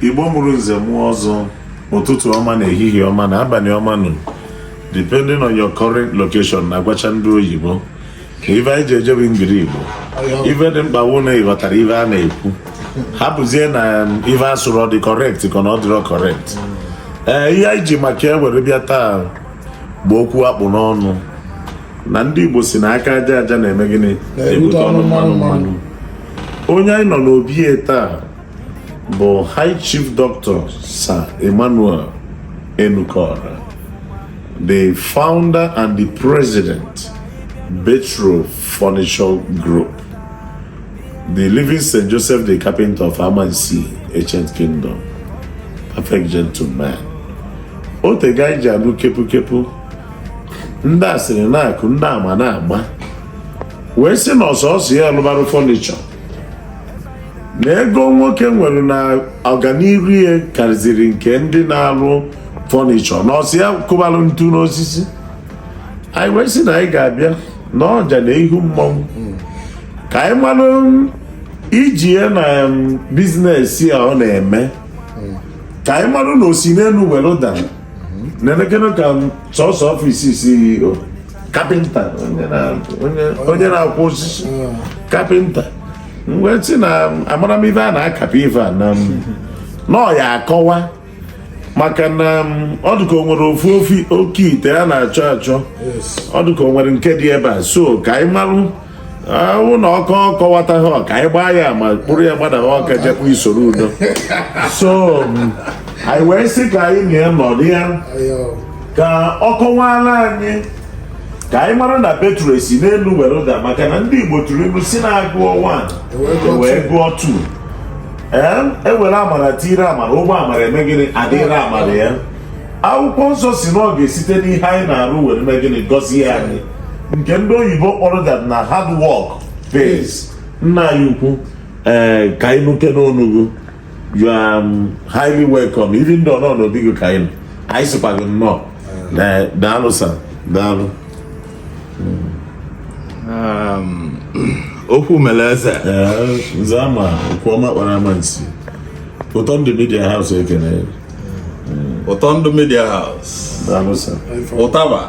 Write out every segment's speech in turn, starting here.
igbo mụrụ nze mụọ ọzọ ụtụtụ ọma nụ ehihie ọma nụ abalị ọma nụ depending on your current location na-agwacha ndị oyibo ka ife anyị ji eje bụ ngiri igbo ife dị mkpa wụ na ị ghọtara ife a na-ekwu hapụzie na ife a sụrụ ọ dị correct ka na ọ dịrọ correct ee ihe anyị ji maka ya were bịa taa bụ okwu a kpụ n'ọnụ na ndị Igbo sị na aka aja aja na-eme gịnị na-ebute ọnụ mmanụ mmanụ onye anyị nọ n'obi ya taa bụ High Chief Doctor Sir Emmanuel Enukora the founder and the president Betro Furniture Group the living St. Joseph the Carpenter of Amansi Ancient Kingdom perfect gentleman o tego anyị ji anụ kepu kepu ndị asịrị na-akụ ndị ama na-agba wee sị na ọ sọsọ ya lụbara fọnichọ na ego nwoke nwere na ọganiru ya karịziri nke ndị na-alụ fọnichọ na ọ sọ ya kụbalụ ntu n'osisi anyị wee sị na anyị ga-abịa na ọja na ihu mmọnwụ ka anyị malụ ije ya na bizinesi a ọ na-eme ka anyị malụ na o si n'elu were dara na-elekere ka sọsọ ọfịs CEO kapịnta onye na-akụ osisi kapịnta m wee sị na amara m ife a na-akapị ife a na ọ ya-akọwa maka na ọ dịka o nwere ofu oke ite a na-achọ achọ ọ dịka o nwere nke dị ebe a so ka anyị marụ ọ wụ na ọ kọ kọwataghị ka anyị gbaa ya ama kpụrụ ya gbada Awka jekwu Soludo so anyị wee sị ka anyị na ya nọrọ ya ka ọ kọwara anyị ka anyị mara na Betro esi n'elu were daa maka na ndị igbo tụrụ ilu sị na a gụọ 1 e wee gụọ 2 ee e were amara tiire amara ụgbọ amara eme gịnị adịrị amara ya akwụkwọ nsọ sị na ọ ga-esite n'ihe anyị na-arụ were mee gịnị gọzie anyị nke ndị oyibo kpọrọ that na hard work pays nna anyị ukwu ee ka anyị nụkene onu gị you are um, highly welcome even though a nọ n'obi gị ka anyị anyị sịkwa gị nnọọ daalụ sir daalụ um, okwu mere eze nze ama okwu ọma ọkpara Amansi ụtọ ndụ media house ekene Ụtọndụ Media House ụtaba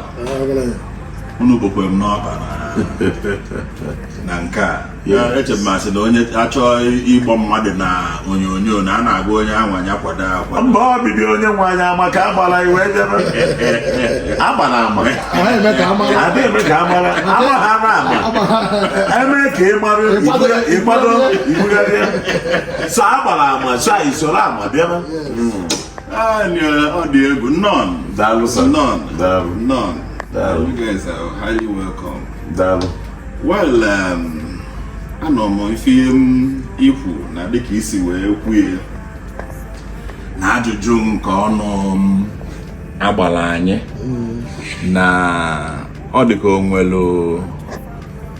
unu bụkwa m n'ọba na nke a eche m asị na onye achọọ ịkpọ mmadụ na onyonyo na a na-agwa onye anwa ya kwado akwa mba ọbịbịa onye nwe anyị ama ka agbara iwe jebe agbara ama adịghị eme ka amara ama ha na ama eme ka ị mara ịgbado ibugharịa so a gbara ama so anyị soro ama bịara naanị ọ dị egwu nnọọnụ daalụ sir nnọọnụ daalụ nnọọnụ daalụ you guys are highly welcome daalụ well um, anụ m ife i kwu na dịka i si wee kwue na ajụjụ nke ọnụ a gbara anyị na ọ dịka o nwelu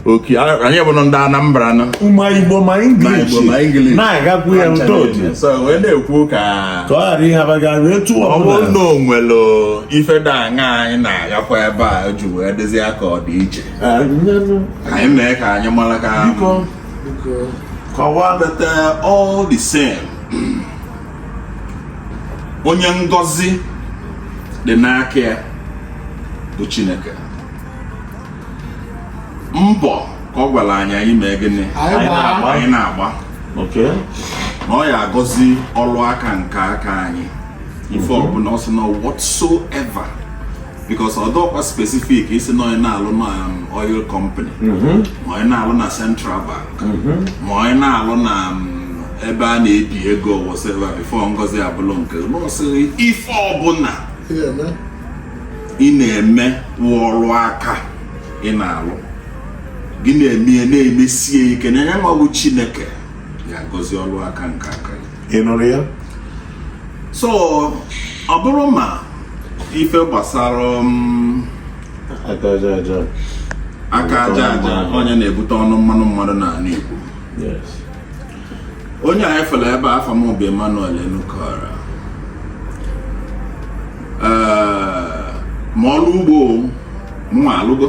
oke anyị bụ ndị Anambra na ma Igbo ma English na-agakwu ya ntọji wee na-ekwu ka ọ ghara ịhabaga wee tụọ ọ bụrụ na o nwere ife da aṅa anyị na-agakwa ebe a ji wee dozie ya ka ọ dị iche anyị mee ka anyị mara ka kọwaa but all the same onye ngọzi dị n'aka ya bụ Chineke mbọ ka ọ gwara anyị anyị mee gịnị Anyị gbaa. anyị na-agba Okay. na ọ ya-agọzi ọrụ aka nke aka anyị ife ọbụla ọ sị na whatsoever because ọ dịrọkwa specific ịsị na onye na-alụ na um, oil company ma onye na-alụ na central bank ma onye na-alụ na um, ebe a na-ebi ego whatever before ngọzi abụlụ nke na ọ sịrị ife ọbụla Ihe eme. ị na-eme ọrụ aka ị na-alụ gị na-eme ya na-emesie ike na ya nwa wụ Chineke ya-agọzi ọrụ aka nke aka ya ị nụrụ ya so ọ bụrụ ma ife gbasara um, aka aja aja aka aja aja ọ ya na-ebute ọnụ mmanụ mmanụ n'anị Igbo yes onye anyị fụrụ ebe afa m bụ Emmanuel Enukora ma ọrụ ugbo mụ nwa alụgo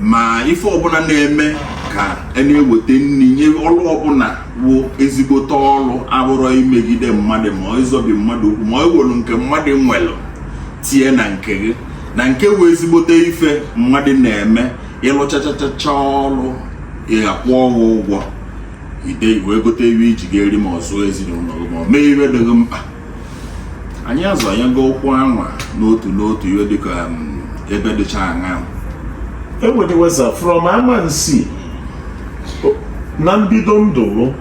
ma ife ọbụla na-eme ka a e na-eweta nri nye ọrụ ọbụla wụ ezigbote ọrụ abụrọ imegide mmadụ ma ọ ịzọbi mmadụ ụkwụ ma ọ iwelu nke mmadụ nwelu tie na nke gị na nke wụ ezigbote ife mmadụ na-eme ị lụchachachacha ọrụ ị ga-akwụ ọrụ ụgwọ ide wee gote iwe i ji ga-eri ma ọ zụọ ezinụlọ gị ma ọ mee iwe dị gị mkpa anyị azọnyego ụkwụ anwa n'otu n'otu iwe dịka um, ebe dịcha aṅa ewedeweza from Amansi na mbido ndụ m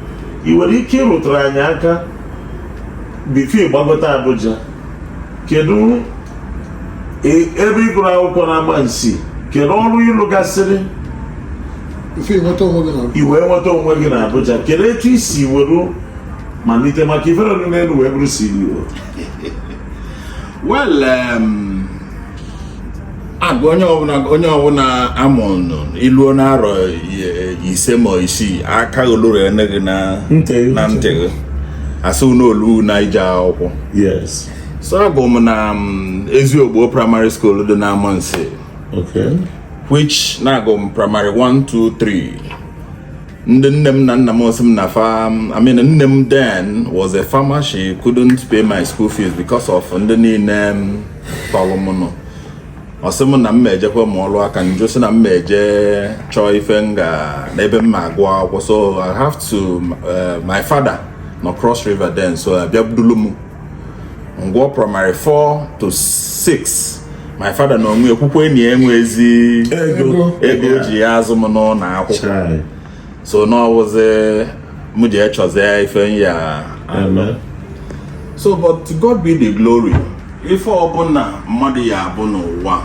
ị nwere ike ịrụtara anyị aka before ị gbagote Abuja kedu e, ebe ị gụrụ akwụkwọ na Amansi kedu ọrụ ị lụgasịrị i wee nweta onwe gị na Abuja kedu etu i si were malite maka ifere ọdụ n'elu wee bụrụ CEO well um, agụ onye ọbụla onye ọbụla a mụlụ i luo n'arọ ise ma isii aka oluru ene gị na ntị gị a sị na o luna ije akwụkwọ yes so agụ m na mm, Eziogbo primary school dị na Amansi okay which na agụ m primary 1 2 3 ndị nne m na nna m ọ sị m na farm mm, I mean nne m then was a farmer she couldn't pay my school fees because of ndị niile mm, tọrọ m nọ ọ sị m na m ejekwa mụa ọlụ aka m jụ sị na m eje chọọ ife m ga n'ebe m ma-agụ akwụkwọ so I have to eh, my father nọ Cross River then so a bịa budulu m m gụa primary 4 to 6 my father na onwe ekwukwe enyi enwezi ego o ji ya-azụ m n'ụlọ akwụkwọ so na ọ wụzi m jee chọzie ife m ya-eme so but to God be the glory ife ọbụla mmadụ ya-abụ n'ụwa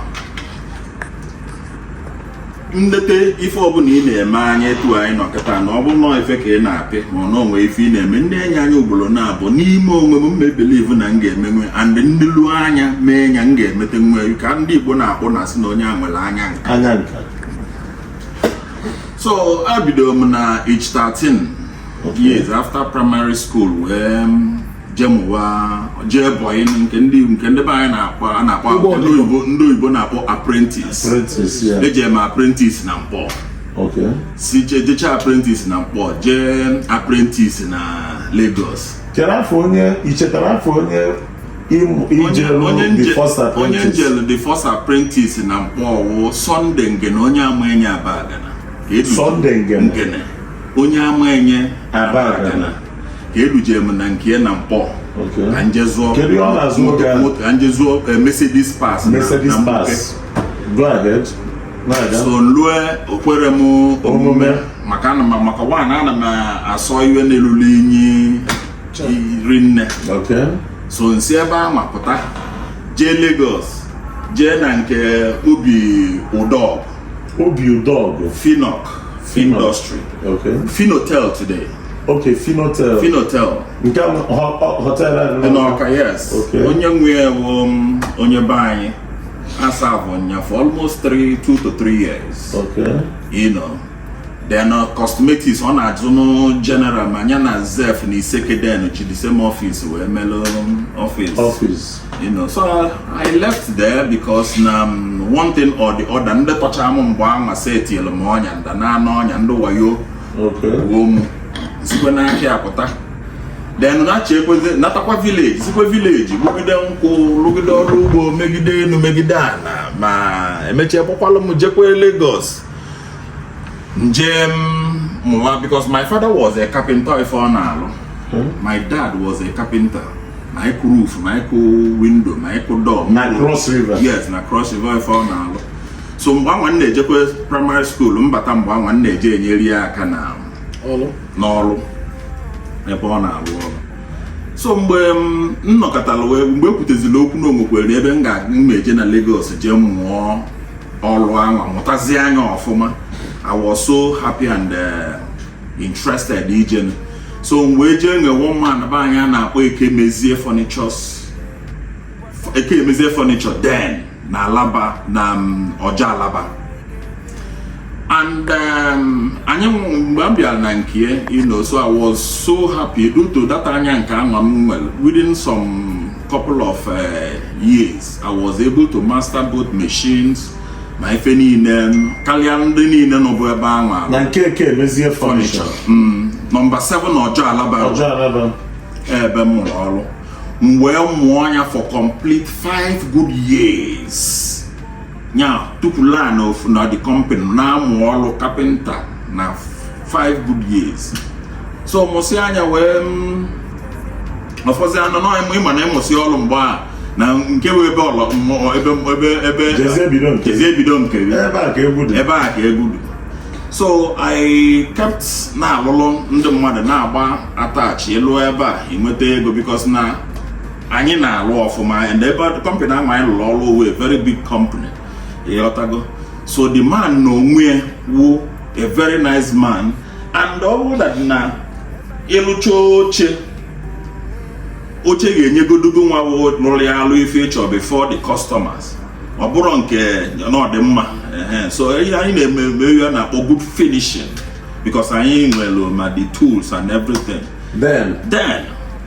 m leta ife ọbụla ị na-eme anya etu anyị nọ kịta na ọ bụrụ na ife ka ị na-apị ma na o nwe ife ị na-eme m nenye anya ugboro naabọ n'ime onwe m m ma-ebelieve na m ga-emenwe and m nelu anya mee nya m ga-emetenwe ka ndị Igbo na-akpọ na-asị na onye a nwere anya nka so abidoro m na age 13 years after primary school wee jee mụwa jee bọyị nke ndị nke ndị be anyị na-akpọ a na-akpọ ndị oyibo ndị oyibo na-akpọ apprentice eje m apprentice na Nkpor si jecha apprentice na Nkpor jee apprentice na Lagos chere afa onye i chetara afa onye onye m jelu the first apprentice na Nkpor wụ Sunday Ngene onye Amaenye Abagana Sunday Ngene onye Amaenye Abagana ka e duje m na nke na Nkpor ka m je zụọ ka m je zụọ eh, Mercedes parts na Nkpor okay so lue o kwerọ m omume maka ana m maka nwaanyị ana m asọ iwe n'elulu inyi iri nne so nsi ebe anwa pụta jee Lagos jee na nke obi udogu obi udogu finok industry finotel today Okay, Finotel. Finotel. Nke hotel ahụ. Dị n'Ọka, yes. Okay. Onye nwe ya bụ um, onye be anyị. A serve nya for almost three, two to three years. Okay. You know. then uh, cosmetics ọ na-azụ nụ general ma nya na zef na isekeden ji the same office wee melụ office office you know so i left there because na um, one thing or the other ndị tọcha m mgbe anwa setielu m ọnya nda na ọnya ndị wayo okay wuo m sikwe n'ahịa apụta then nachiekwezi natakwa village sikwe village lụgide nkwụ lụgide ọlụ ugbo megide enu megide ana ma emechie kpọkwalụ m jekwe Lagos njee mụwa because my father was a carpenter ife ọ na-alụ hmm? my dad was a carpenter ma ịkụ roof ma ịkụ window ma ịkụ door na cross river yes na cross river ife ọ na-alụ so mgbe anwa m na-ejekwa primary school mbata mgbe anwa m na-eje enyere ya aka na n'ọrụ ebe ọ na-alụ ọrụ so mgbe m nọkọtara wee mgbe ekwutezila okwu na onwekwere ebe m ga-eje na Lagos jee mụọ ọlụ anwa mụtazia nya ọfụma I was so happy and uh, interested ije so m wee jee nwe one man be anyị a na-akpọ ekemezie furnitures ekemezie furniture then na alaba na um, ọjọ alaba and um, anyị mgbe m bịara na nke you know so I was so happy due to that anya nke anwa m nwere within some couple of uh, years I was able to master both machines ma ife niine kalịa ndị niine nọbụ ebe anwa na nke ekemezie furniture mm, nọmba 7 ọjọ alaba ọjọ alaba ebe m mụrụ ọrụ m wee mụa nya for complete 5 good years nya tupu laa na ofu na the company na-amụ ọrụ kapịnta na 5 good years so mụsịa nya wee mm, ọfọzi anọ na ịma na ịmụsị ọrụ mgbe a na nke bụ ebe ọlọ ebe ebe ebe ebido nke ebe a ka egwu dị ebe a ka egwu dị so I kept na-alụlụ ndị mmadụ na-agba attach elu ebe a inweta ego because na anyị na-alụ ọfụma and ebe company ahụ anyị lụrụ ọrụ ọ wụ very big company ị ghọtago so the man na onwe ya wụ a very nice man and ọ bụrụ that na ị lụcha oche oche ga-enyegodu gị nwa lụrụ ya alụ ife ị chọ before the customers ọ bụrụ nke na ọ dị mma so ihe anyị na-eme ya na-akpọ good finishing because anyị nwere ma the tools and everything then then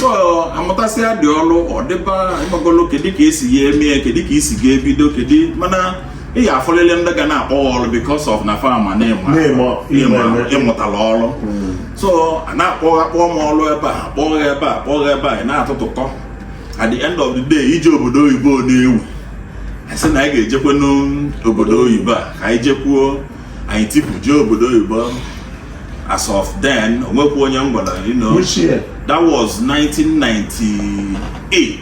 so a mụtasịadị ọrụ ọ dịba ị magolu kedu ka e si ya eme ya kedu ka i si ga-ebido kedu mana ị ga-afụlịlị ndị ga na-akpọ gị ọrụ because of na fa ma na ị mụtala ọrụ hmm. so a na-akpọ akpọ m ọrụ ebe a a kpọọ gị ebe a a kpọọ gị ebe a ị na-atụtụkọ at the end of the day ije obodo oyibo na-ewu a sị na anyị ga-ejekwanụ obodo oyibo a ka anyị jekwuo anyị tipu jee obodo oyibo as of then o nwekwa onye m gwara you know Which year? that was 1998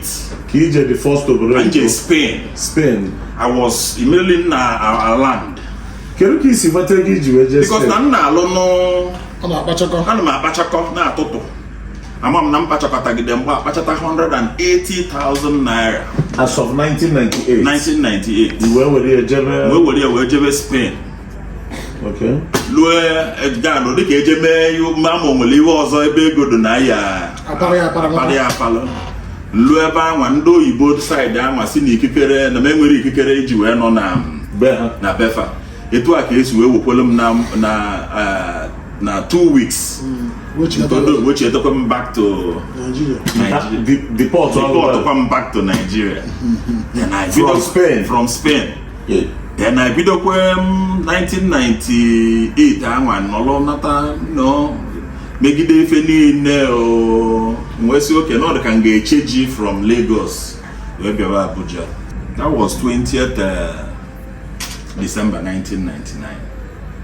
ka ije the first obodo anyị jee Spain Spain I was immediately na our land kedu ka i si nweta ego i ji wee jee Spain because na m na-alụnụ ọ na-akpachakọ ana m akpachakọ na-atụtụ ama m na m kpachakọtagide mgbe a kpachata 180,000 naira as of 1998 1998 wee were ya jebe wee were ya wee jebe Spain okay lue Kano dịka e je mee ma o nwere ihe ọzọ ebe ego dị na ya apara ya apalụ lue ebe anwa ndị oyibo side anwa sị na ikikere na m enwerọ ikikere iji wee nọ na be fa etu a ka e si wee wekwelu m na eh, na two weeks wechitekwa m back to Nigeria deportụkwa m back to Nigeria from Spain from Spain then ebidokwa m 1998 anwa nọrọ nata nọ megide ife niile o m wee sị okay na ọ dị ka m ga-echenji from Lagos wee bịawa Abuja that was 20th uh, December 1999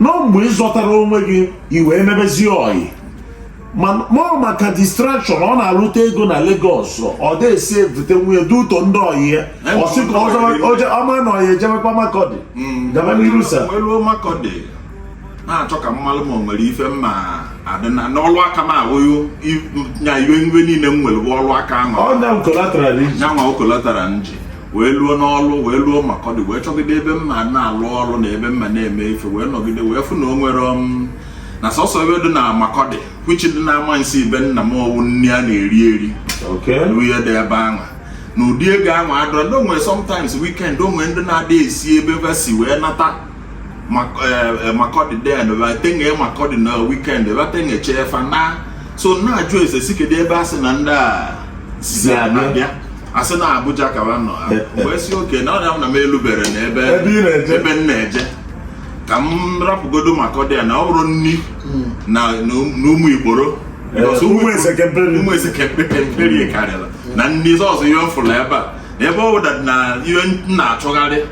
na mgbe ị zọtara onwe gị i wee mebezie ọyị mụọ maka distraction ọ na-arụta ego na Lagos ọ desi evute nwunye dị ụtọ ndị ọyị ya ọ sị ka ọma na ọyị ejebekwa Makurdi mm. gaba n'iru sa na-achọ ka m malụ ma o nwere ife mma adị na n'ọlụ aka m awụghị nya ife niile m nwere bụ ọlụ aka ahụ nyanwa okolatarali nji wee luo n'ọlụ wee luo Makurdi wee chọgide ebe m ma na-alụ ọrụ na ebe m ma na-eme ife wee nọgide wee fụ na o nwere um, na sọsọ ebe dị na Makurdi which dị na ama nsi ibe nna m ọ wụ nri a na-eri eri ihe dị ebe ahụ na ụdị ego ahụ adịrọ ndị onwe sometimes weekend o nwe ndị na-adị esi ebe fa si wee nata Makurdi then batenge Makurdi na weekend batenge chefa na so na-ajụ ese si kedu ebe a sị na ndị a si abịa asị na Abuja ka ha nọ wee sị okay na ọrịa na m elubere na ebe ebe m na-eje ka m rapụgodo Makurdi ya na ọ bụrụ nri hmm. na ụmụ igboro ụmụ esekeperi karịrị na ndị ọzọ ihe m fụrụ ebe a ebe ọ bụla na ihe m na-achọgharị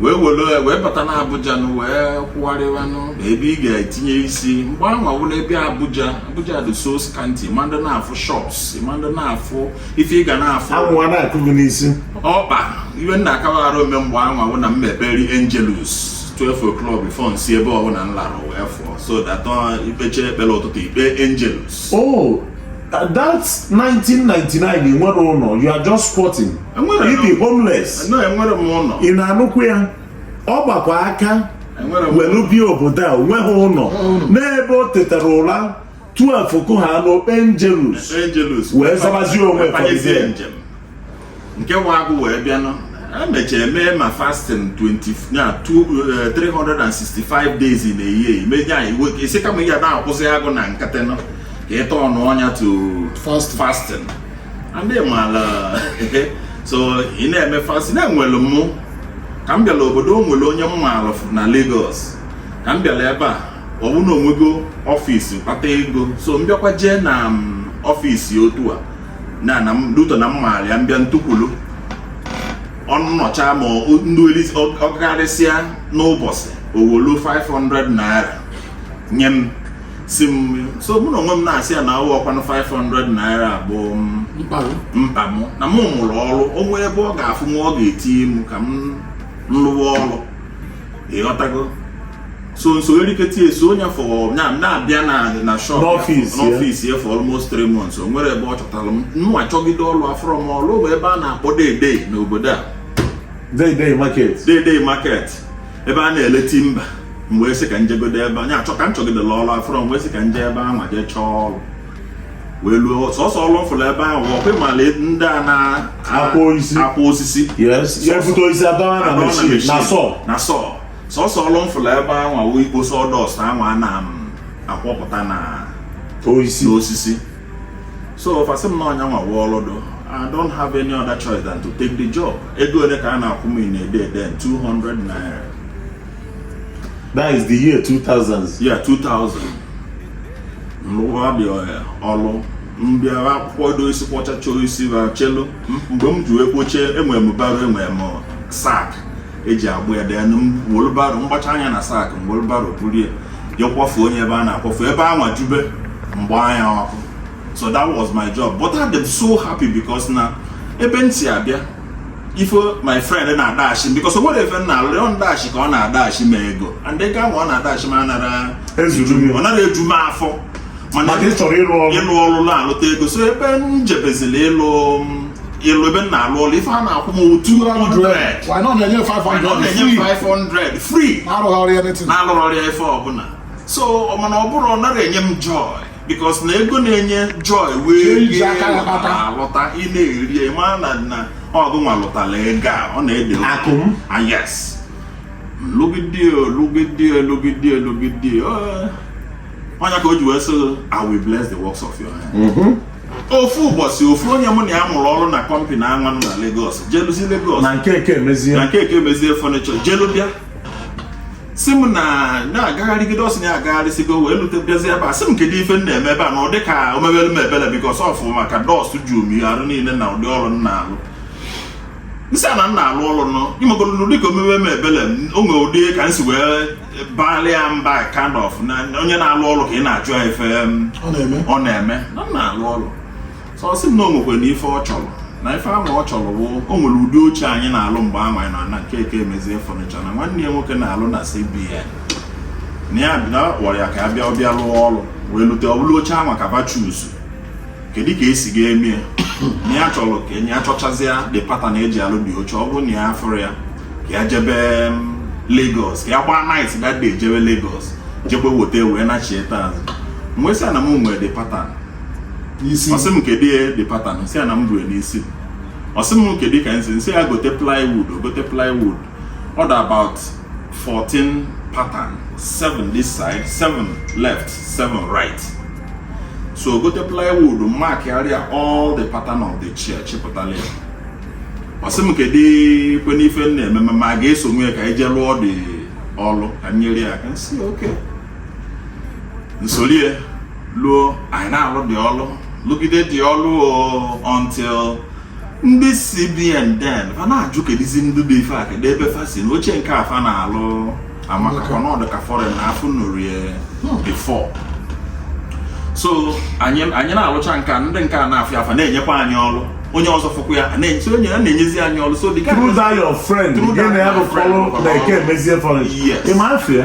wee were wee bata na Abuja nụ wee kwụgharịwanụ na ebe ị ga-etinye isi mgbe anwa wụ n'ebe Abuja Abuja dị so scanty ma ndị na-afụ shops ma ndị na-afụ ife ị ga na-afụ anwụ wa na-akụ gị n'isi ọkpa iwe nna akawaghara ome mgbe anwa wụ na m ekpere Angelus 12 o'clock before nsi ebe ọbụla m lara wee fụọ so that uh, i kpecha ekpere ụtụtụ i kpe Angelus oh that's 1999 i nwere ụnọ you are just squatting i bi homeless ị na-anụkwu ya ọ gbakwa aka welu bi obodo a onweghị ụlọ n'ebe o tetara ụra 12 kụ ha n'o kpe Angelus wee zabazie onwe nke nwa agụ wee bịanụ e mechara mee ma fasting 365 eh, days in a year meje anyị nwoke ị sị kama ị ga na-akwụsị agụụ na nkịtị ka ị tọnụọ nya to fasting ndị maala so ị na-eme fasting na-enwere mụ ka m bịara obodo o nwere onye m maara na Lagos ka m bịara ebe a ọ bụ na o nwego office kpata ego so m bịakwa jee na office otu a na due to na m maara ya m bịa ntukwulu ọnụ nọcha ma ndị ọkarịsịa n'ụbọchị o wolu 500 naira nye m si m so mụ na onwe m na-asị ya na awụrọkwanụ 500 naira bụ mkpa m na mụ mụrụ ọrụ o nwee ebe ọ ga-afụ nwa ọ ga-etinye m ka m lụwa ọrụ ịghọtago so nso eriketa eso onye afụ na-abịa na shop n'office ya for almost three months o nwere ebe ọ chọtara m mụ achọgide ọrụ afụrọ m ọrụ o nwe ebe a na-akpọ Dei Dei n'obodo a Dei Dei market Dei Dei market ebe a na-ele timber m wee sị ka njegodo ebe anwa chọọ ka m chọgidela ọrụ afụrọ m wee sị ka nje ebe ahụ jee chọọ ọrụ wee luo sọsọ ọrụ m fụrụ ebe ahụ ọkwa ị mala ndị a na-akwọ osisi akwọ osisi e bute osisi a dọna na machine na saw na saw sọsọ ọrụ m fụrụ ebe ahụ wụ ikpo sawdust ahụ a na-akwọpụta na osisi so fa sị m na ọ nyanwa wụ ọrụ dị I don't have any other choice than to take the job ego ole ka a na-akwụ m in a day then 200 naira that is the year 2000 yeah 2000 nrụwa dị ọrụ m bịa ha akwọkwọdo osisi kwọchacha osisi fa chelu mgbe m ji wee kpocha enwere m barrow enwere m sack eji agba ya dee wheelbarrow m gbachaa nye na sack wheelbarrow buru ya je kwafuo nye ebe a na-akwafu ebe anwa jube m gbanye ọkụ so that was my job but I am so happy because na ebe m si abịa ife my friend na-adashi m because o nwere ife m na-alụ ọ ndashi ka ọ na-adashi m ego and ego ahụ ọ na-adashi m anara ọ nara eju m afọ mana ị chọrọ ịlụ ọrụ ịlụ ọrụ na-alụta ego so ebe m jebezila ịlụ ịlụ ebe m na-alụ ọrụ ife a na-akwụ m 200 why not na-enye 500 na-enye 500 free na-arụghọrị anything na-alụghọrị ya ife ọbụla so mana ọ bụrụ ọ nara enye m joy because na ego na-enye joy wee rie alụta ị na-eri ma na na ọ gụnwa lụtara ego a ọ na-ede akụ m ah, yes lụgide lụgide lụgide lụgide ọ nya ka o ji wee sị I will bless the works of your hand mm-hmm. ofu ụbọchị ofu onye mụ na ya mụrụ ọrụ na kọmpani anwanụ na Lagos jeluzi Lagos na nke Ekemezie na nke Ekemezie furniture jelu bịa sị m na ya agagharịgide ọ sị na ya agagharịsịgo wee lute bịazi ebe a sị m kedu ife m na-eme ebe a na ụdị ka o mebere m ebele because ọ fụ m ka dust ju m arụ niile na ụdị ọrụ m na-alụ m sị ya na m na-alụ ọrụ now ị magoro na ụdị ka o mebe m ebele m o nwere ụdị ka m si wee baalị ya mba kind of na onye na-alụ ọrụ ka ị na-ajụ ya ife um, ọ na-eme ọ na-eme na m na-alụ ọrụ so ọ sị m na o nwekwe na ife ọ chọrọ na ife ahụ ọ chọrọ bụ o nwere ụdị oche anyị na-alụ mgbe ahụ anyị nọ na nke Ekemezie furniture na nwanne ya nwoke na-alụ na CBN na ya bi- na ọ kpọrọ ya ka ya bịa ọ bịa lụọ ọrụ wee lute ọ bụrụ oche ahụ ka ba choose kedu ka esi ga-eme ya na ya chọrọ ka enye ya achọchazịa the pattern eji alụ the oche ọ bụrụ na ya afụrụ ya ka ya jebe mm, Lagos ka ya gbaa night that day jebe Lagos jebe weta wee nachie azụ m wee sị ya na m nwere the pattern ọ sị m kedu the pattern m sị ya na m bu ya n'isi ọ sị m kedu ka m si m sị ya gote plywood gote plywood ọ dị about 14 pattern 7 this side 7 left 7 right so gote plywood markarịa all the pattern of the chair chịpụtala ya ọ sị m kedukwanụ ife m na-eme ma m ga-esonwu ya ka anyị jee lụọ the ọlụ ka m nyere ya aka m sị okay m sorie luo anyị na-alụ the ọlụ lụgide the ọlụ until ndị CBN then fa na-ajụ kedizi ndị dị ife a kedu ebe fa si na oche nke a fa na-alụ amaka ka ọ na-adị ka foreign na afụnurie before so anyị anyị na-alụcha nke a ndị nke a na-afụ ya fa na-enyekwa anyị ọrụ onye ọzọ fụkwa ya na-enye so onye a na-enyezi anyị ọrụ so dị ka through that your friend Through gị that na ya my bụ friend. fọlụ na Ekemezie fọlụ Yes. ịma afịa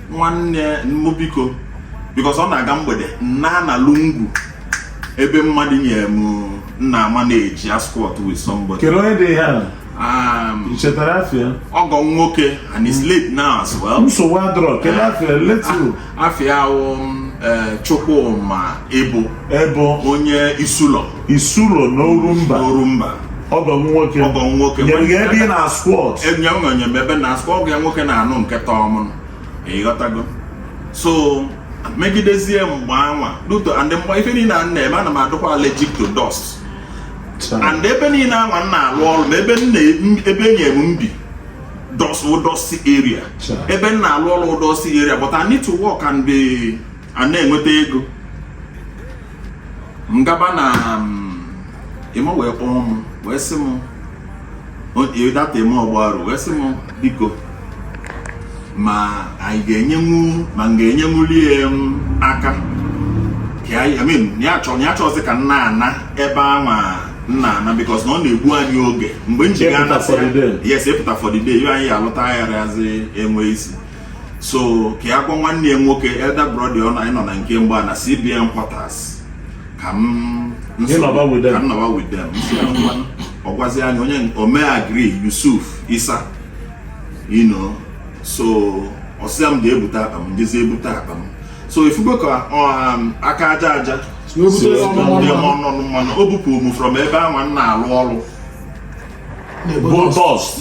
nwanne m biko because ọ na-aga mgbede m na-ana lungu ebe mmadụ nyere m m na-amanage asquat with somebody kedu onye dị ya um, chetara afa ya ọgọ nwoke and he's late now as well nsogbu adịrọ kedu eh, afa ya letu ah, afa ya wụ um, eh, Chukwuma Ebo Ebo onye Isulọ Isulọ na orumba orumba ọgọ nwoke ọgọ nwoke nyere gị ebe ị na-asquat e nye m o nye m ebe na-asquat ọgọ nwoke na-anụ nke tọọ m ịghọtago so megidezie mgbe anwa duto and mgbe ife niile a na-eme ana m adụkwa allergic to dust and ebe niile anwa m na-alụ ọrụ na ebe ebe e nye m m bi dust wụ dusty area ebe m na-alụ ọrụ dusty area but I need to work and be a na-enweta ego m gaba na um, ime wee kpọọ m wee sị m that ime ọgbaru wee sị m biko ma anyị ga-enyenwu ma m ga-enyenwuli ya um, aka ya chọzi ka m na-ana ebe anwa m na-ana because na ọ na-egbu anyị oge mgbe m ji gaa na yes ịpụta for the day anyị alụta agharazi enwe isi so ka ya gwa nwanne ya nwoke elder brother ọ na anyị nọ na nke mgbe a na cbn quarters ka m Gị nọba with them. ka m nọba with them M sị ya ngwa, ọ gwazi anyị onye o mee agree yusuf isa you know so ọ sịa m gaa bute akpa m m jezie bute akpa m so ifugo ka ọ, um, aka aja aja Wee bute si ọnụ ndị mmanụ. ọnụ mmanụ o bupụ m from ebe ahụ m na-alụ ọrụ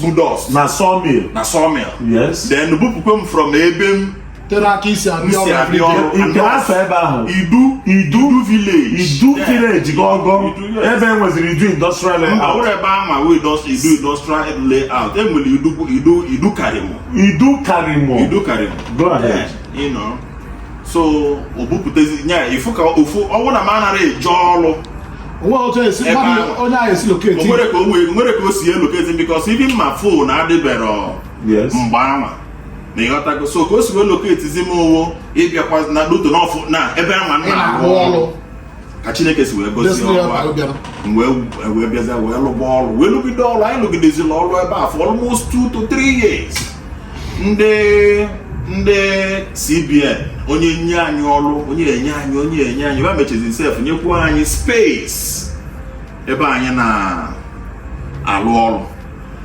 budos na sawmill na sawmill yes then bupụkwa m from ebe m tere aka esi abịa ọrụ kee afa ebe ahụ idu idu village idu village gọgọ ebe e nweziri idu industrial layout mba ọ wụrọ ebe anwa e nwee idu industrial layout e nwere idu idu idu Karimo idu Karimo idu Karimo go ahead you know so o bupụtazi nya ife ka ofu ọnwa na m anarọ eje ọrụ o nwe otu e si Ebe mmadụ ahụ. onye ahụ esi elocate nwere ka o nwee- nwerọ ka o si elocate because even ma phone adịbero yes mgbe anwa na ịghọtago so ka o si wee locatezi m ọ wụ ịbịakwa na doto n'ọfụ na ebe anwa m ị na-arụ na-arụ ọrụ ọrụ ka chineke si wee gosi ọrụ wee bịazia wee lụba ọrụ wee lụgide ọrụ anyị lụgidezila ọrụ ebe a for almost two to three years ndị ndị cbn onye nye anyị ọrụ onye nye anyị onye nye anyị ba mechezi sef nyekwa anyị space ebe anyị na-alụ ọrụ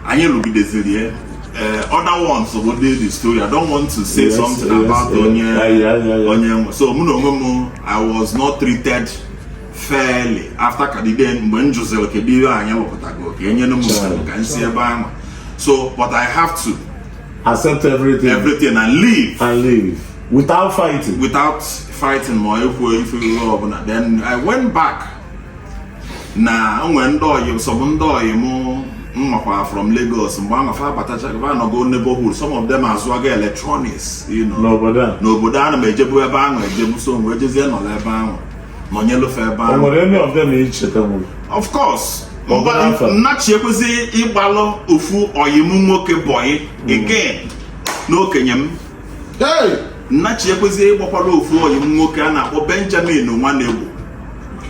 anyị rụgideziri ya eh, other ones bụ ndị the story I don't want to say yes, something yes, about yes, onye onye nwe so mụ na onwe m I was not treated fairly after kadide mgbe m jụziri kedu ihe anyị lụpụtago ka enyere m nsogbu ka m si ebe ahụ so but I have to accept everything everything and leave and leave without fighting without fighting ma ekwu ife ọbụla then I went back na o nwe ndị so bụ ndị ọyị mụ m makwa from Lagos mgbe anwa fa abatachaga anọgo neighborhood some of them azụaga electronics n'obodo a na m ejebu ebe ahụ ejebu so wee jezie nọla ebe ahụ nọnyelu fa ebe ahụ of course nnachi ekwezi ịgbalụ ofu ọyị m nwoke bọyị again n'okenye m nnachi ekwezie ịgbakwara ofu ọyị m nwoke a na-akpọ benjamin nwanegbo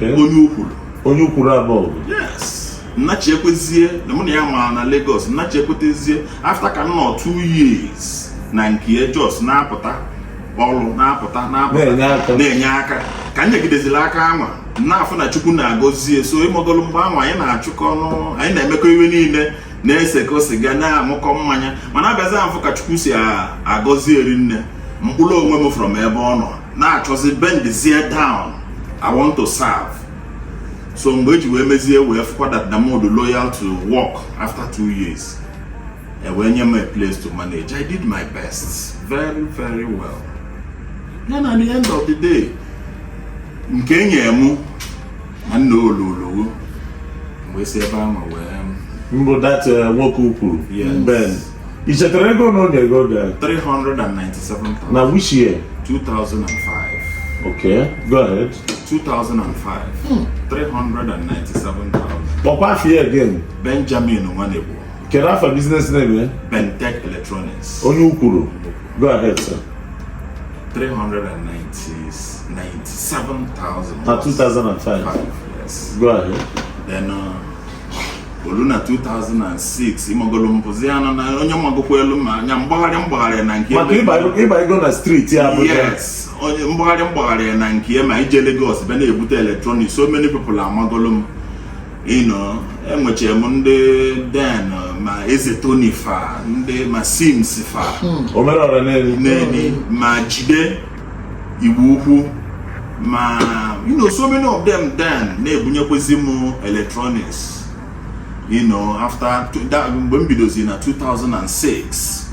onye ukwuru onye ukwuru abụọ yes nnachi ekwezie na mụ na ya mara na Lagos nnachi ekwetezie after ka m nọ two years na nke just na-apụta ọrụ na-apụta na-apụta na-enye aka ka m nyegideziri aka anwa na-afụ na Chukwu na-agọzie so ị magolu mgbe anwa anyị na-achụkọ ọnụ anyị na-emekọ ife niile na-eseko siga na-aṅụkọ mmanya mana abịazi afụ ka chukwu si agọzi ya rinne m kpụrụ onwe m from ebe ọ nọ na-achọzi bendizie down i want to serve so mgbe e ji wee mezie wee fụkwa that na mụ dị loyal to work after two years e wee nye m a place to manage i did my best very very well then at the end of the day nke e nye mụ nwanne ololowo wee si ebe ahụ wee mbụ that eh, nwoke ukwuru ben i chetara ego one o nyego gị 397,000 na which year 2005 okay go ahead 2005 hmm. 397,000 kpọkwa afa ya again benjamin nwanegbo kedu afa business name bentech electronics onye ukwuru Go ahead, sir. 397,000. Na 2005. Five, yes. Go ahead. Then uh, o lu na 2006 ị magolu m bụzi ya nọ na onye magokwa elu ma anya mgbagharị mgbagharị na nke maka ịba ego na street ya Abuja yes onye mgbagharị mgbagharị na nke ma ije Lagos bịa na-ebute electronics so many people amagolu m you know enwechara m ndị den ma eze tony fa ndị ma sims fa omerọra neni neni ma jide igbo ukwu ma you know so many of them then na-ebunyekwezi m electronics you know after mgbe m bidozi na 2006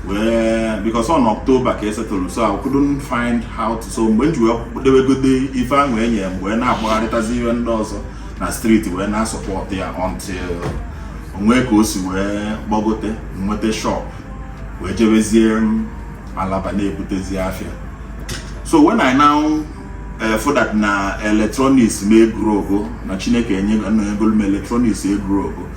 wee because on October ka esetụrụ so I couldn't find how to so mgbe m ji wee dewegode ife ahụ enye wee na-agbagharịtazi ihe ndị ọzọ na street wee na-asupport ya until o nwee ka o si wee gbagote nweta shop wee jebezie Alaba na-ebutezi afịa so when I now eh, found that na electronics m e-grow go na Chineke enye na egolu m electronics e-grow go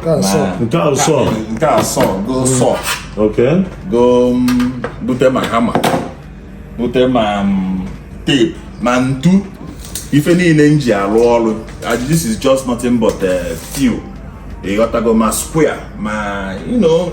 Nke a sọ. na- Nke ahụ sọ. nke a sọ go saw Okay. go mm, bute ma hammer bute ma mm, tape ma ntu ife niile m ji alụ ọlụ Ah, this is just nothing but uh, few ịghọtago ma square ma you know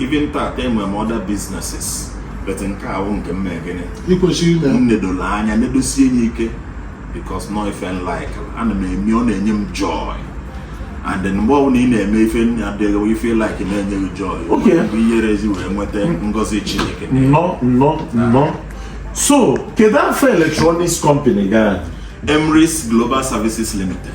Even tata enwere m other businesses but nke a wụ nke m mee gịnị m nedolu anya nedosie enye ike because na ọ ife m like ana m eme ọ na-enye m joy and then mgbe ọbụla ị na-eme ife ife ị like na-enye gị joy bụ ihere ezi wee nweta ngọzi Chineke no no no so kedu afa electronics company gị a Emris Global Services Limited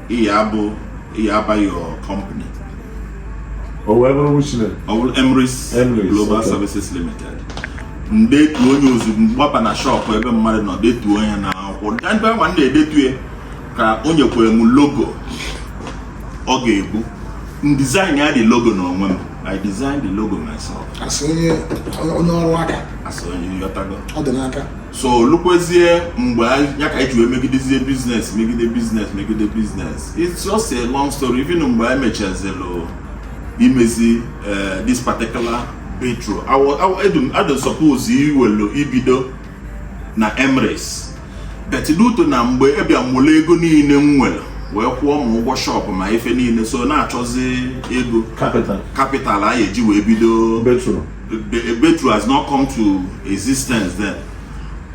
Ị ya-abụ ị ya-aba your company. O wee bụrụ which name. Ọ bụrụ Emris Global Services Limited. M detuo enye ozugbo m gbaba na shọpụ ebe mmadụ nọ detuo enye na akwụkwọ. Ndị ebe nwa na-edetu ya ka o nyekwere m logo ọ ga-ebu. M design ya the logo n'onwe m. I designed the logo myself. As onye ọrụ aka. As onye ịghọtago. Ọ dị n'aka. so lukwezie mgbe ya ka eji wee megidezie business megide business megide business it's just a long story even mgbe anyị mechazilụ imezi eh, this particular Betro a dị suppose iwelu ibido na Emris but due to na mgbe ebia bulu ego niile m nwere wee kwụọ ma ụgwọ shop ma ife niile so na-achọzi ego capital a ya-eji wee bido Betro has not come to existence then.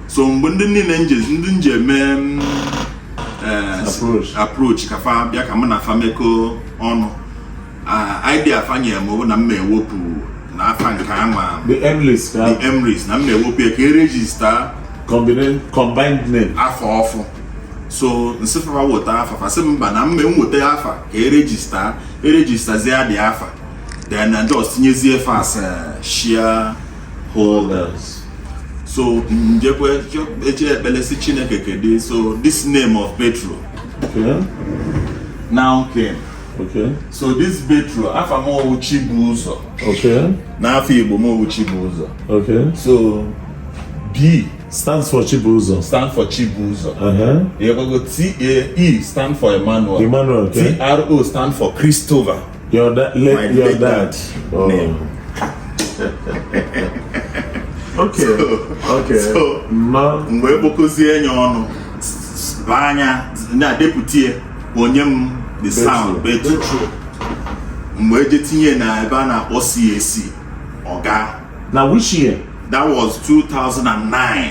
So mgbe ndị niile ndị m je eme mm, eh, approach ka fa bịa ka mụ na fa mekọọ ọnụ ah, idea fa nye m bụ na m ewepụ na afa nke ama the Emris the Emris na m ewepụ ya ka e register combined name afa ọfụ so m sị fa fa weta afa fa sị mba na m enweta afa ka e register e registerzie the afa then na just tinyezie fas eh, share holders so njekwe eche ekpele si chineke kedu so this name of petro okay. now came Okay. So this Petro, afọ m owu Chibuzo. Okay. N'afọ Igbo m owu Chibuzo. Okay. So B stands for Chibuzo. Stand for Chibuzo. Uh-huh. You're going to go T A E stand for Emmanuel. Emmanuel. Okay. T R O stand for Christopher. Your da- le- my your late dad. Oh. name. Okay. So- okay. so- Ma- mgbe e kpokọzie enye ọnụ baa anya na-adepụtie o nye m the sound Betro mgbe eje tinye na ebe a na-akpọ CAC ọ gaa Now which year? that was 2009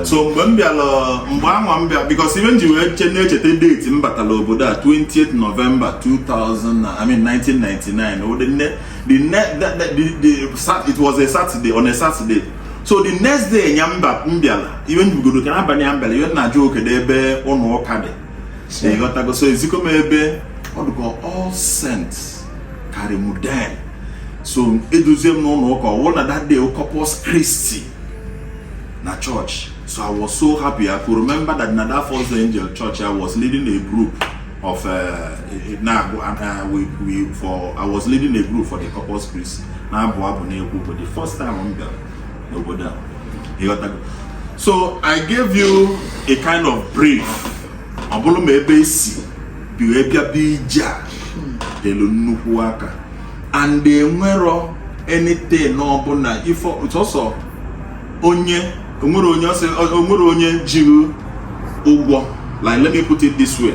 Eh. so mgbe m bịara mgbe anwa m bịa because ife m ji wee che na-echeta date m batara obodo a 20th November 2000 I mean 1999 the ne the ne the the it was a Saturday on a Saturday so the next day nya mba m bịara ibe njigodo ka n'abalị ya m bịara ife m na-ajụ ọ kedụ ebe ụlọ ụka dị ịghọtago so eziko m ebe ọ dị ka All Saints Karimu then so eduzie m n'ụlọ ụka ọ wụ na that day wụ Corpus Christi na church so i was so happy i could remember that na that first angel church i was leading a group of uh, na uh, we, we for i was leading a group for the Corpus Christi na-abụ abụ na-ekwu but the first time m bịara n'obodo a ịghọtago so i gave you a kind of brief ọ bụrụ ma ebe e si bi wee bịa Abuja telu nnukwu aka and enwerọ anything ọbụla ị fụ sọsọ onye onwere onye ọ sị onwere onye ji gị ụgwọ like let me put it this way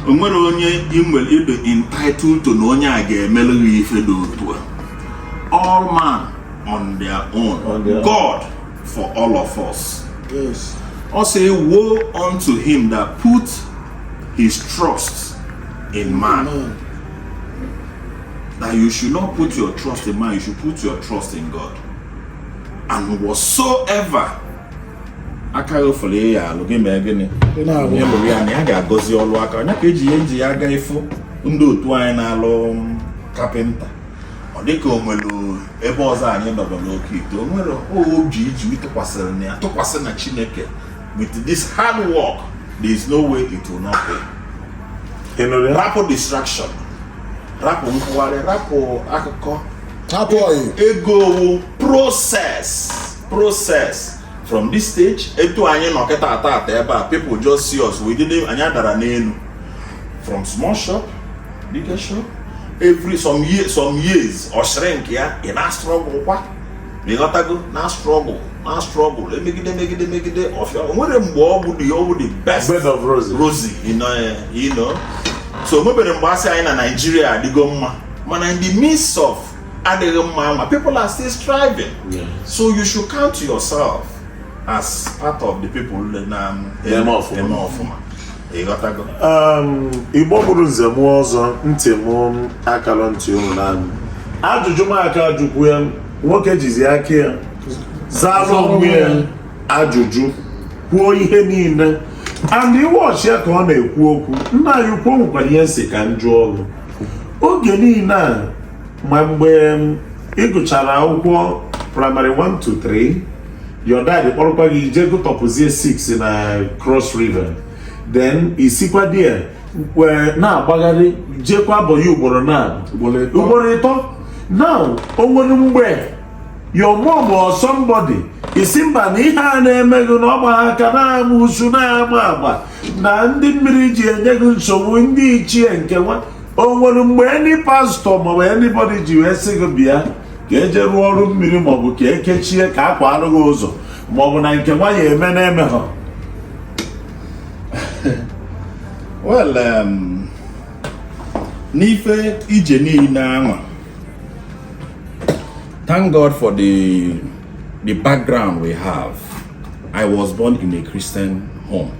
onwere onye inwere ị dị entitled to na onye a ga-emere gị ife dị otu a all man on their own. On their own. God for all of us. Yes. Ọ sị, Woe unto him that put his trust in man. Amen. That you should not put your trust in man, you should put your trust in God. And whatsoever aka gị fụlụ ị ya-alụ gị mee gịnị onye lụrụ ya na ya ga-agọzi ọlụ aka onye ka e ji ya e ji ya aga ị fụ ndị otu anyị na-alụ carpenter ọ dịka o nwere ebe ọzọ anyị nọrọ n'oke ite o nwere oge i ji tụkwasịrị na ya tụkwasị na Chineke with this hard work there is no way it will not pay rapụ distraction rapụ nkwụgharị rapụ akụkọ rapụ ego ọ wụ process process from this stage etu anyị nọ kịta taa taa ebe a people just see us we didn't anyị adarọ n'elu from small shop bigger shop every some years some years ọ shrink ya ị na struggle kwa ịghọtago na struggle na struggle e megide megide megide ọ fịa o nwere mgbe ọ bụ the ọ bụ the best Bed of roses. rosy you know, eh, you know. so o nwebero mgbe a sị anyị na Nigeria adịgo mma mana in the midst of adịghị mma ma people are still striving Yeah. so you should count yourself as part of the people na Eme ọfụma. eme ọfụma Um, Igbo bụrụ nze na ọzọ ntị m akarọ ntị unu naanị ajụjụ m aka ajụkwu ya nwoke jizi aka ya zaa onwe ya ajụjụ kwuo ihe niile and ị watch ya ka ọ na-ekwu okwu nna anyị ukwu nwekwara ihe m sị ka m jụọ ọrụ oge niile a ma mgbe ị gụchara akwụkwọ praịmarị 1 to 3 your dad kpọrọkwa gị i je gụtọpụzie 6 na cross river then i sikwa there na-agbagharị jekwa abụghị ugboro na ugboro ịtọ now o nwere mgbe your mom or somebody sị mba na ihe a na-eme gị na ọ gba aka na amusu na-ama agba na ndị mmiri ji enye gị nsogbu ndị ichie nke nwa o nwere mgbe any pastọ maọbụ anybody ji wee sị gị bịa ka e je rụọ ọrụ mmiri maọbụ ka e kechie ka a kwaarụ gị ụzọ maọbụ na nke nwa ya-eme na-eme ha well um, n'ife ije niile anwa thank god for The background we have, I was born in a Christian home.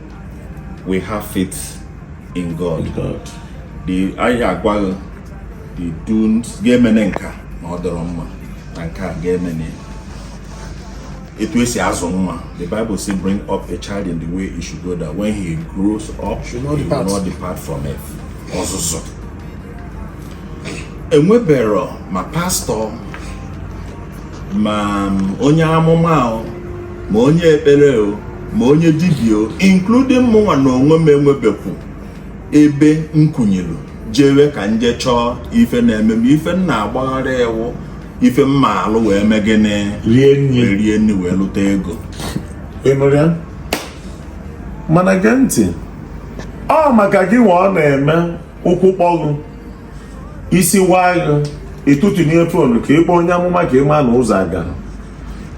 We have faith in God. The a ya-agwa gị the don'ts gị emene nka na ọ dịrọ mma na nke a gị emene etu e si azụ nwa the bible say bring up a child in the way he should go that when he grows up he will not depart from it ọzụzụ enwebero ma pastọ ma onye amụma o ma onye ekpere o ma onye dibịa o including mụnwa na onwe m e nwebekwu ebe m kunielu jewe ka m je chọọ ife na-eme m ife m na-agbagharị a wụ ife m ma-alụ wee mee gịnị rie nri wee lụta ego ị nụrụ ya mana gee ntị ọ maka gị nwa ọ na-eme ụkwụ kpọọ gị isi waa gị ị tụtụnie fonu ka ị kpọọ onye amụma ka ị ma na ụzọ aga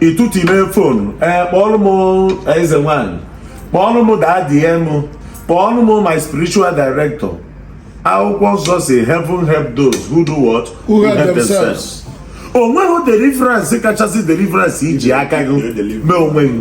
ị tụtụnie fonu ee kpọọlụ m eze nwanyị kpọọlụ m dadi m kpọọlụ m my spiritual director akwụkwọ nsọ sị heaven help those who do what who help themselves o nweghị deliverance kachasị deliverance i ji aka gị mee onwe gị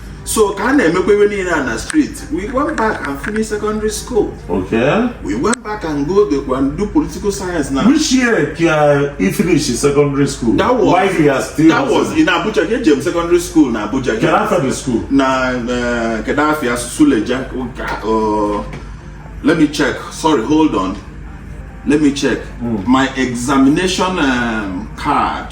So ka a na-emekwa ebe niile a na street we went back and finish secondary school Okay. we went back and go the and do political science na Which year ka he finish his secondary school? That was- Why he has still that was in Abuja ka ejem secondary school na Abuja Can after the school? na eh, kedu afia Suleja uh, let me check sorry hold on let me check my examination um, card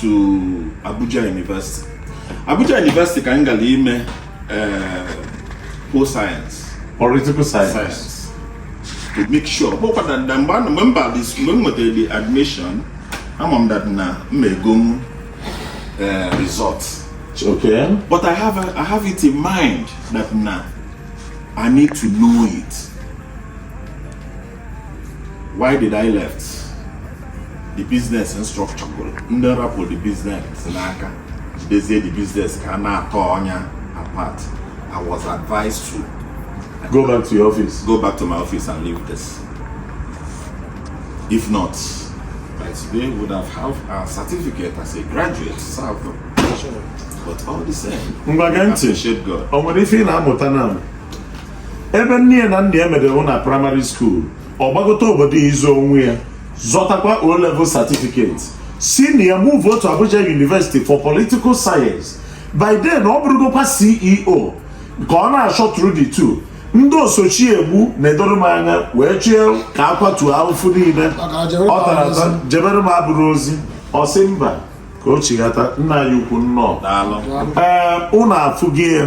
to Abuja University Abuja University ka m gara ime eh, pol science political science to make sure kpọkwa na na mgbe a na- mgbe m bara is- mgbe m nwetara the admission ama m that na m egonwu eh, result okay But I have a, I have it in mind that now I need to know it. why did I left the business structure gwụrụ ndị rapụ the business n'aka jidezie the business ka a na-atọ ọnya apart I was advised to go back to your office go back to my office and leave this if not by today would have have a certificate as a graduate served but all the same ngwa gee ntị appreciate God o nwere ife ị na-amụta na ebe nne ya na nna ya medewụ na primary school ọ gbagote obodo ịzụ onwe ya zọtakwa o level certificate si na ya move to Abuja University for political science by then ọ bụrụgokwa CEO ka ọ na-ashuttle the two ndị oso chi egbu na-edoro m anya wee chie ka a kwatuo ahụfụ niile ọ tara ata jebere m abụrụ ozi ọ sị mba ka o chighata nna ya ukwu nnọọ Daalụ. ee ụnụ afụghị ya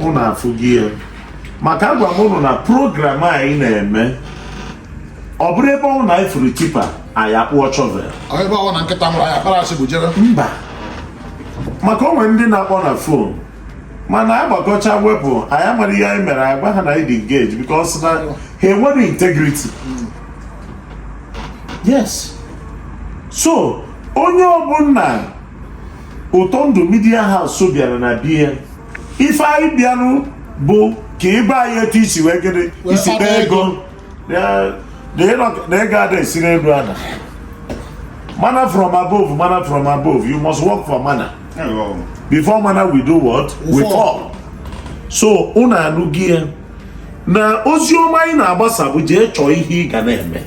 ụnụ afụghị ya maka agwa m ụnụ na program anyị na-eme ọ bụrọ ebe ọbụna anyị fụrụ tipper anyị akpụọ shovel ebe ọbụna nkịta nwụrụ anyị akpara asị bụ jebe mba maka o nwere ndị na-akpọ na phone mana a gbakọchaa wepụ anyị amara ihe anyị mere agwa ha na anyị dị engage because na ha enwerọ integrity yes so onye ọbụla Ụtọndụ Media House bịara na be ya ife anyị bịarụ bụ ka ị gwa anyị etu i si wee gịnị i si kpaa ego na ego ada esi n'elu ada manna from above manna from above you must work for manna before manna will do what will fall so unu anụghị ya na ozi ọma anyị na-agbasa bụ jee chọọ ihe ị ga na-eme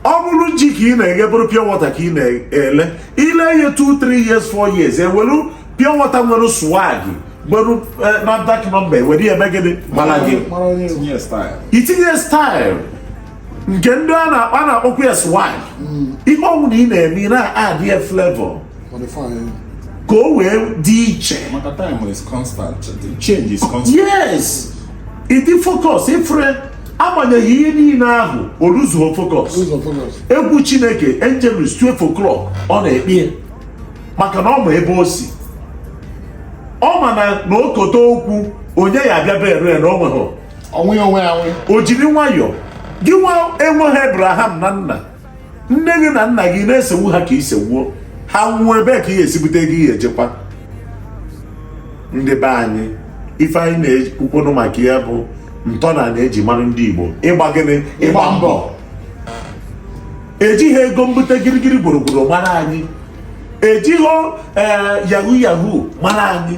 ọ bụrụ ji ka ị na-eghe bụrụ pure water ka ị na-ele i lee ya 2 3 years 4 years i nwelu pure water nwere swag nwere eh, NAFDAC number e were ya eme gịnị mara gị i tinye style nke ndị a na-akpa na-akpọkwa ya swag mm. ihe ọwụna ị na-eme ị na-add ya flavor ka o wee dị iche maka time is constant change is constant yes ị dị focus ifre agbanyeghị ihe niile ahụ o loseghị focus Lose your focus. egwu chineke angelus 12 o'clock ọ na-ekpe ya maka na ọ ma ebe o si ọ ma na na o kote okwu onye ya-abịa bere ya na o nweghị Ọ wụ ya onwe ya nwe. o jiri nwayọọ gị nwa enweghị abraham na nna nne gị na nna gị na-esegbu ha ka i segbuo ha nwụọ ebe ka ị ya-esi bute ego ị ya-ejekwa ndị be anyị ife anyị na-ekwukwenụ maka ya bụ ntọana e ji mara ndị Igbo ịgba gịnị ịgba mbọ ejighị ego mbute girigiri gburugburu mara anyị ejighị eh, yahoo yahoo mara anyị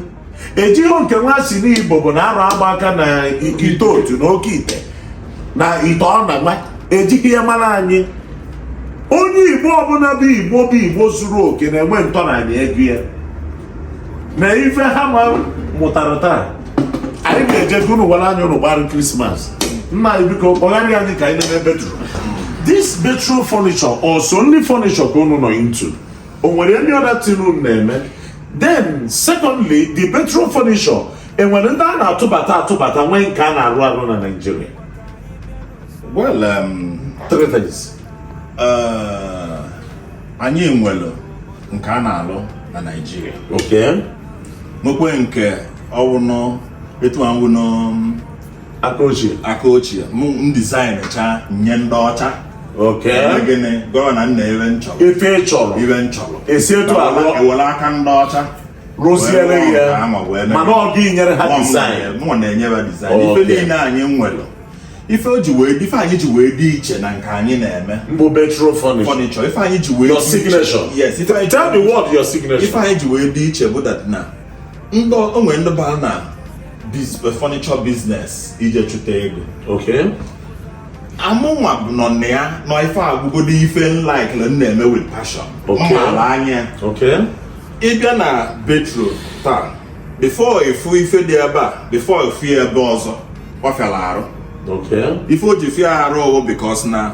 ejighị nke nwa si n'igbo bụ na arụ agba aka na ite otu na oke ite na ite ọ na nwa ejighị ya mara anyị onye igbo ọbụla bụ igbo bụ igbo zuru oke na-enwe ntọnanị ego ya na ife ha ma mụtara taa anyị ga-eje ka unu wara anya unu gbara krismas nna anyị biko kọwara anyị ka anyị na-eme Betro this Betro furniture ọ sọ only furniture ka unu nọ into o nwere any other thing unu na-eme then secondly the Betro furniture e nwere ndị a na-atụbata atụbata nwee nke a na-arụ arụ na Naịjirịa well um, three things uh, anyị nwere nke a na-alụ na Naịjirịa okay nwekwe nke ọ wụnụ etu anwụnụ aka ochie aka ochie m dizaịnchaa nye ndị ọcha gịnị gọvanọ nna ebe m chọrọ ife ị chọrọ ife m chọrọ e si etu a lụọ e were aka ndị ọcha rụziere ya mana ọ gị nyere ha dizaịn mụ na-enye ha dizaịn ife niile anyị nwere ife o ji wee ife anyị ji wee dị iche na nke anyị na-eme bụ Betro furniture ife anyị ji wee your signature yes ife anyị ji wee dị iche bụ that na ndị o nwee ndị ba na furniture business ije chụta ego okay amụnwa bụ nọ na ya n'ọ ife a bụgodo ife m likelụ m na-eme with passion mmaala anya ị bịa na Betro taa before ị fụ ife dị ebe a before ị fụ ya ebe ọzọ ọ fịala arụ ife o ji fịa arụ ọ wụ because na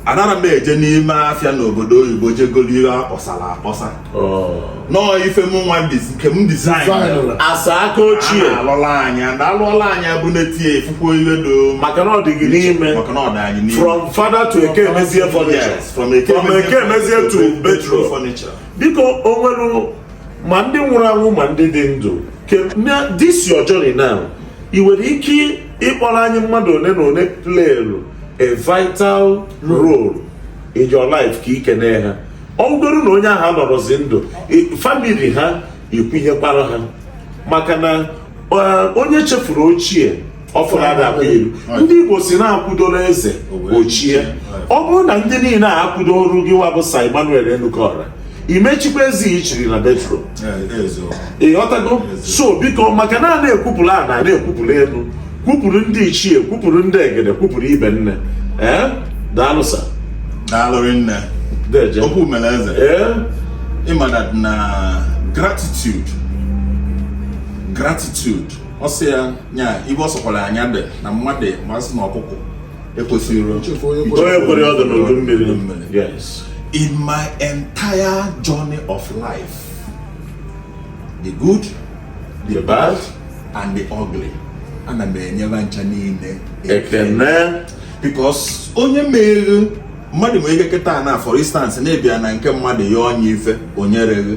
anara m eje n'ime afịa n'obodo oyibo je golu ihe akpọsara akpọsa oh. na ọ ife m nwa nke m dizain asa aka ochie alụla anya na alụọla anya bụ na-etinye efukwuo ihe do maka na ọ dị gị n'ime maka na ọ dị anyị n'ime from father to Ekemezie furniture from Ekemezie to Betro furniture biko o nwere ma ndị nwụrụ anwụ ma ndị dị ndụ this your journey now ị nwere ike ịkpọrọ anyị mmadụ ole na ole playlụ a vital role in your life ka i kene ha ọ bụgoro na onye ahụ anọrọzi ndụ famili ha ikwunyekwara ha maka na onye chefuru ochie ọfụrụ ada akwa ilu ndị Igbo sị na akwụdoro eze o chie ọ bụrụ na ndị niile a akwụdorọ gị nwa bụ Sir Emmanuel Enukora ị ma echikwa eze i chiri na Betro ị ghọtago so biko maka na a na-ekwupụrụ ana na-ekwupụrụ elu kwupụrụ ndị ichie kwupụrụ ndị egede kwupụrụ ibe nne ee daalụ sa daalụ nne okwu mere eze ee ị ma na gratitude gratitude ọ sị ya nya ibe ọ sọkwara anya dị na mmadụ ma sị na ọkụkọ ekwesịrị onye kwere ọdụ n'udu mmiri in my entire journey of life the good the bad and the ugly ana m enye ba ncha niile ekene because onye meghe mmadụ nwere ike kịta na for instance na-abịa na nke mmadụ ya onye ife onye reghe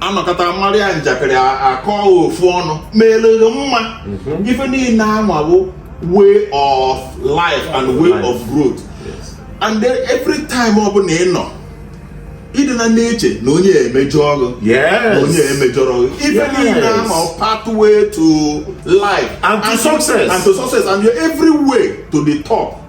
anọkọta maa gị njakịrị akọ ofu ọnụ mere gị mma mhm. ife niile anwa wụ way of life and way of growth and then every time ọ bụla ị nọ ị dị na na-eche na onye emejọ ọrụ na onye emejọrọ ọrụ ife niile anwa pathway to life and to success and to success and your every way to the top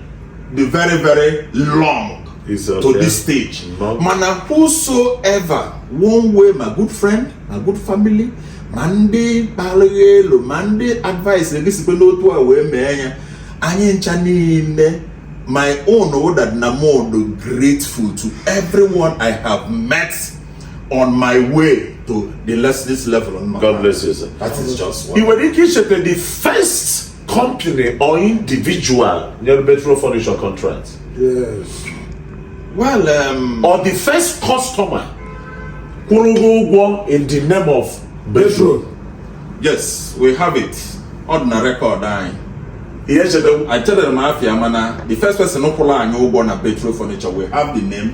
dị very very long okay. to this stage mana whosoever one way my good friend my good family ma ndị palị gị elu ma ndị advice gị sikwa n'otu a wee mee ya anyị ncha niile my own wụ that na mụ dị grateful to everyone I have met on my way to this level. God bless you, sir. That is just one. You were the first company or individual nyere Betro Furniture contract. Yes. Well, um, or the first customer kwụrụ ụgwọ in the name of Betro. Yes, we have it. Ọ dị na record anyị. Ihe chetewu. I tell them afa ya mana the first person kwụrụ anyị ụgwọ na Betro Furniture we have the name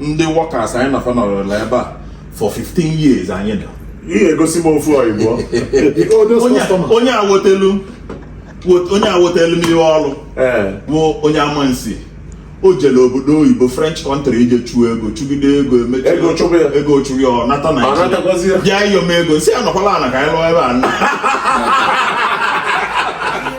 ndị workers anyị na fa anọọla ebe a for 15 years anyị nọ ị ga-egosi m ofu oyibo onye awotelu onye awotelu n'ihe ọrụ bụ onye Amansea o jere obodo oyibo french country ije chụọ ego chụgide ego emechaa ego chụrụ ya ọ nata Nigeria bịa ịyọ m ego sị ya nọkwalụ ana ka anyị lụọ ebe a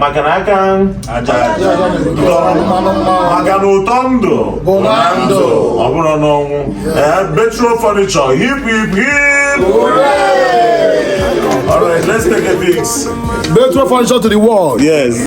maka na aka maka na ụtọ ndụ bụ na ndụ ọ bụrọ n'ọnwụ ee Betro Furniture hip hip hip All right, let's take a pic. Betro Furniture to the world. Yes.